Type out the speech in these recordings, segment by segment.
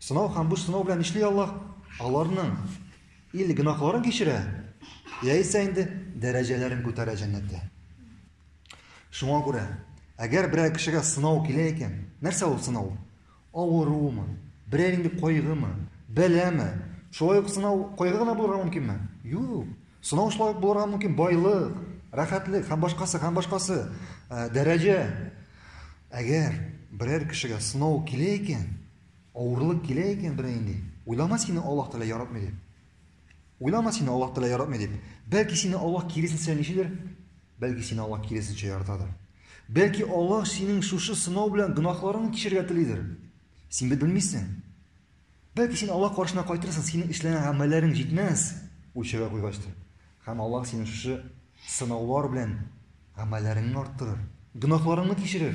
Сынау һәм бу сынау белән нишли Аллаһ? Аларның или гөнаһларын кичерә, яисә инде дәрәҗәләрен күтәрә җәннәттә. Шуңа күрә, әгәр берәр кешегә сынау килә икән, нәрсә ул сынау? Авыруымы? Берәр инде кайгымы? Бәләме? Шулай ук сынау кайгы гына булырга мөмкинме? Юк. Сынау шулай ук булырга мөмкин байлык, рәхәтлек һәм башкасы һәм башкасы э, дәрәҗә. Әгәр берәр кешегә сынау килә икән, Авырлык килә икән берәй инде. Уйлама сине Аллаһ Тәгалә яратмый дип. Уйлама сине Аллаһ Тәгалә яратмый дип. Бәлки сине Аллаһ киресенчә ничедер? Бәлки сине Аллаһ киресенчә яратадыр. Бәлки Аллаһ синең шушы сынау белән гөнаһларыңны кичерергә телидер. Син бит белмисең. Бәлки син Аллаһ каршына кайтырсың, синең эшләгән гамәлләрең җитмәс, үлчәүгә куйгачтыр. Һәм Аллаһ синең шушы сынаулар белән гамәлләреңне арттырыр, гөнаһларыңны кичерер.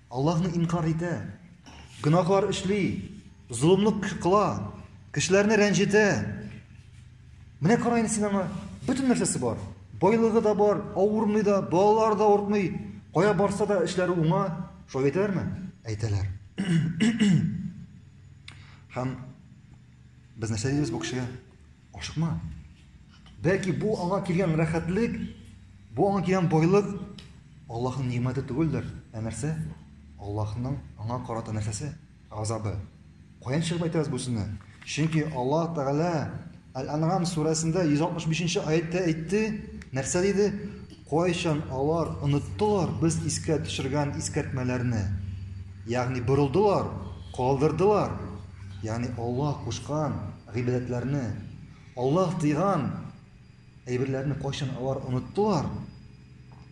Аллаһны инкарь итә, гөнаһлар эшли, золымлык кыла, кешеләрне рәнҗетә. Менә кара инде син аңа, бөтен нәрсәсе бар. Байлыгы да бар, авырмый да, балалар да ортмый, кая барса да эшләре уңа. Шулай әйтәләрме? Әйтәләр. Һәм без нәрсә дибез бу кешегә? Ашыкма. Бәлки бу аңа килгән рәхәтлек, бу аңа килгән байлык Аллаһның нимәте түгелдер, ә нәрсә? Аллаһның аңа карата нәрсәсе? Газабы. Каян чыгып әйтәбез бу сүзне? Чөнки Аллаһ Тәгалә Әл-Ан'ам сүрәсендә 165 нче аятьтә әйтте, нәрсә диде? Кайчан алар оныттылар без искә төшергән искәртмәләрне? Ягъни борылдылар, калдырдылар. Ягъни Аллаһ кушкан гыйбадәтләрне, Аллаһ тыйган әйберләрне кайчан алар оныттылар?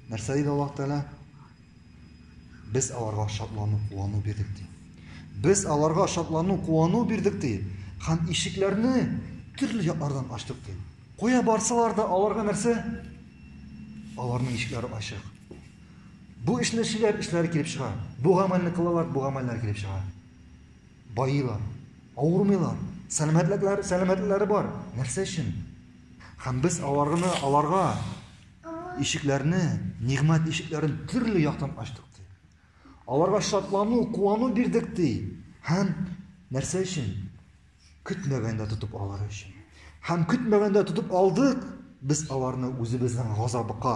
Нәрсә диде Аллаһ Тәгалә? Без аларга шатлану, куану бирдек ди. Без аларга шатлану, куану бирдек ди. Һәм ишекләрне төрле яклардан ачтык ди. Куя барсалар да аларга нәрсә? Аларның ишекләре ачык. Бу эшне эшләр, эшләре килеп чыга. Бу гамәлне кылалар, бу гамәлләр килеп чыга. Баилар, авырмыйлар, сәламәтлекләре, сәламәтлекләре бар. Нәрсә өчен? Һәм без аларны, аларга ишекләрне, нигъмәт ишекләрен төрле яктан ачтык ди. Аларга шатлану, куану бирдек ди. Һәм нәрсә өчен? Көтмәгәндә тотып алар өчен. Һәм көтмәгәндә тотып алдык, без аларны үзебезнең газабыка,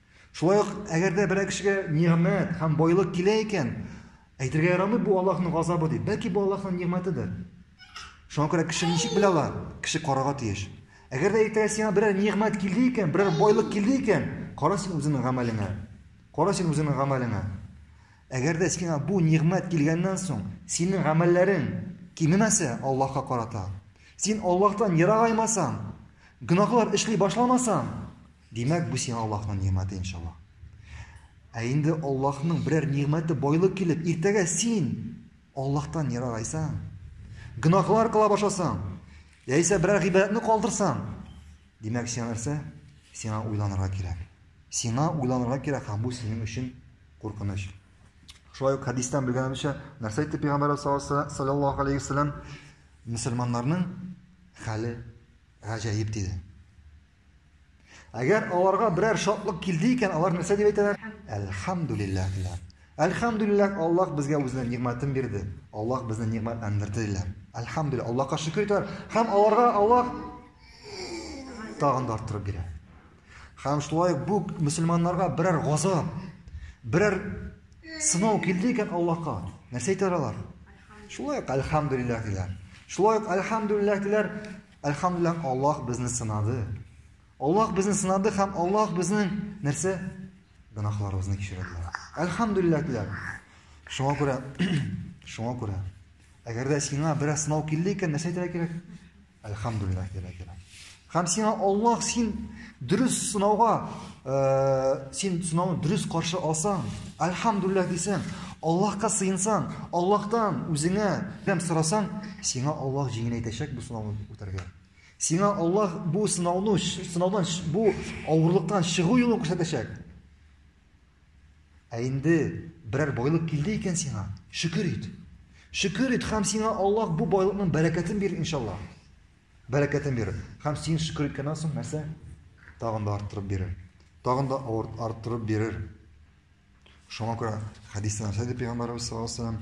Шулай ук, әгәр дә берәр кешегә нигъмәт һәм байлык килә икән, әйтергә ярамый бу Аллаһның газабы дип. Бәлки бу Аллаһның нигъмәтедер. Шуңа күрә кеше ничек белә ала? Кеше карарга тиеш. Әгәр дә иртәгә сиңа берәр нигъмәт килде икән, берәр байлык килде икән, кара син үзеңнең гамәлеңә. Кара син үзеңнең гамәлеңә. Әгәр дә сиңа бу нигъмәт килгәннән соң, синең гамәлләрең кимемәсә Аллаһка карата, син Аллаһтан ерагаймасаң, гөнаһлар эшли башламасаң, Димәк, бу сиңа Аллаһның нигъмәте, иншаллаһ. Ә инде Аллаһның берәр нигъмәте байлык килеп, иртәгә син Аллаһтан ерагайсаң, гөнаһлар кыла башласаң, яисә берәр гыйбадәтне калдырсаң, димәк, сиңа нәрсә? Сиңа уйланырга кирәк. Сиңа уйланырга кирәк, һәм бу синең өчен куркыныч. Шулай ук хәдистән белгәнебезчә, нәрсә әйтте пәйгамбәр саллаллаһу алейһи вәсәлләм? Мөселманнарның хәле гаҗәеп диде. Әгәр аларга берәр шатлык килде икән, алар нәрсә дип әйтәләр? Әлхәмдүлилләһ диләр. Әлхәмдүлилләһ, Аллаһ безгә үзенә нигъмәтен бирде. Аллаһ безне нигъмәтләндерде диләр. Әлхәмдүлилләһ, Аллаһка шөкер итәләр. Һәм аларга Аллаһ тагын да арттырып бирә. Һәм шулай бу мусульманнарга берәр газап, берәр сынау килде икән Аллаһка, нәрсә әйтәләр алар? Шулай ук әлхәмдүлилләһ диләр. Шулай ук әлхәмдүлилләһ диләр. Әлхәмдүлилләһ, Аллаһ безне сынады. Аллаһ безне сынады һәм Аллаһ безнең нәрсә? Гөнаһларыбызны кичерде. Әлхәмдүлилләһ диләр. Шуңа күрә, шуңа күрә, әгәр дә сиңа бераз сынау килде икән, нәрсә әйтергә кирәк? Әлхәмдүлилләһ диләр. Һәм сиңа Аллаһ син Дөрес сынауга, э, син сынауны дөрес каршы алсаң, альхамдулилла дисәң, Аллаһка сыенсаң, Аллаһтан үзеңә ярдәм сорасаң, сиңа Аллаһ җиңеләйтәчәк бу сынауны үтәргә. Сиңа Аллаһ бу сынауны, сынаудан бу авырлыктан чыгу юлын күрсәтәчәк. Ә инде берәр байлык килде икән сиңа, шөкер ит. Шөкер ит һәм сиңа Аллаһ бу байлыкның бәрәкәтен бирер иншаллаһ. Бәрәкәтен бирер. Һәм син шөкер иткәннән соң нәрсә? Тагын да арттырып бирер. Тагын да арттырып бирер. Шуңа күрә хәдистә нәрсә дип пәйгамбәрбез саллаллаһу алейһи вәсәлләм,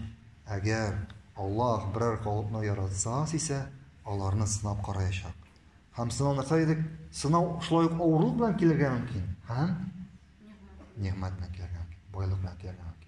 әгәр Аллаһ берәр халыкны яратса, сисә, аларны сынап караячак. Һәм сынау нәрсә дидек? Сынау шулай ук авырлык белән килергә мөмкин. Һәм нигъмәт белән килергә мөмкин. Байлык белән килергә мөмкин.